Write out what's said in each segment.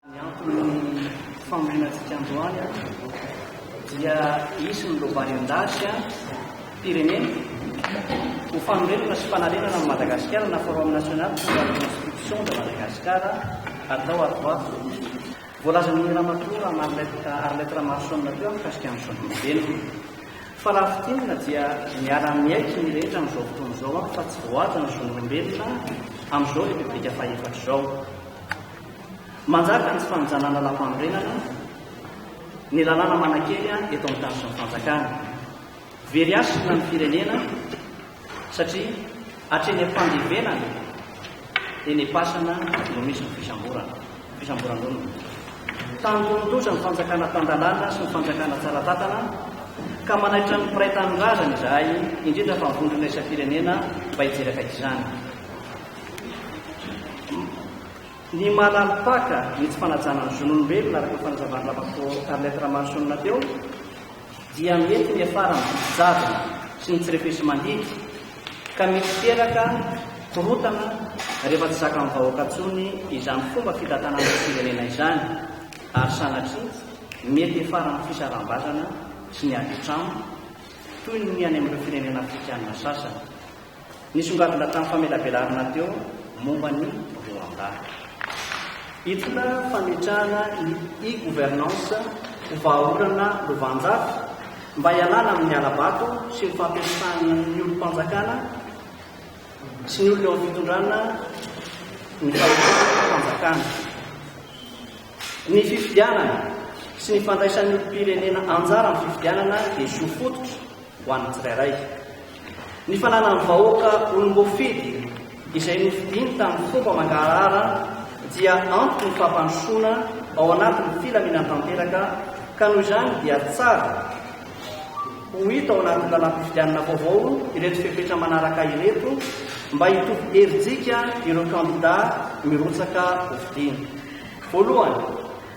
Ny anton'ny fanorenantsika androany dia hisy ny lovaly an-dasy firenena ho fanorenana sy fanarenana amin'ny Madagasikara na Forum National pour la Reconstruction de Madagascar atao Arboato. Voalazan'ny Ramatoa Arlette Arlette Ramaroson teo mikasika ny Zona Mahavelona. Fa raha fintinina dia miara-miaiky ny rehetra amin'izao fotoana izao aho fa tsy voady ny zon'olombelona amin'izao Repoblika fahefatra izao. Manjaka ny tsy fanajana ny lalàmpanorenana, ny lalàna manakely eto amin'ny tany sy ny fanjakana. Very hasina ny firenena. satria hatreny amin'ny fandevenana dia ny pasana no misy ny fisamborana, fisamboran'olona. Tany tontosa ny fanjakana tan-dalàna sy ny fanjakana tsara tantana ka manaitra ny mpiray tanindrazana izahay indrindra fa ny vondrona isam-pirenena mba hijery akaiky izany ny malalipaka ny tsy fanajana ny zon'olombelona araka ny fanazavan'i Ramatoa Arlette Ramarosoninateo dia mety miafara ny vodi-jadona sy ny tsirefesimandidy ka mety hiteraka korontana rehefa tsy zakan'ny vahoaka intsony izany fomba fitantanana firenena izany ary sanatria mety hiafaran'ny fisaraham-bazana sy ny adi-trano toy ny any amin'ireo firenena afrikana sasany. Nisongadina tamin'ny famelabelarana teo momba ny Rwanda. Hitondra fametrahana ny e-gouvernance ho vahaolana lovanjato mba hialana amin'ny hala-bato sy ny fampiasan'ny olom-panjakana sy ny olona eo amin'ny fitondrana ny fanjakana. Ny fifidianana sy ny fandraisan'ny olom-pirenena anjara amin'ny fifidianana dia zo fototra ho an'ny tsirairay. Ny fananan'ny vahoaka olom-boafidy izay nofidiny tamin'ny fomba mangarahara dia antony fampandrosoana ao anatin'ny filaminana tanteraka ka noho izany dia tsara ho hita ao anatin'ny lalam-pifidianana vaovao ireto fepetra manaraka ireto mba hitovy herijika ireo kandidà mirotsaka hofidiana. Voalohany,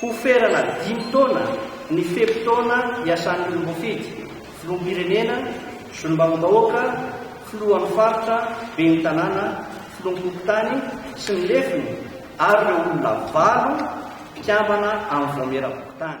Ho ferana dimy taona ny fe-potoana iasan'ny olom-boafidy, filoham-pirenena, solombavambahoaka, filohan'ny faritra, ben'ny tanàna, filoham-pokontany sy ny lefiny ary ireo olona valo mpikambana amin'ny vaomieram-pokontany.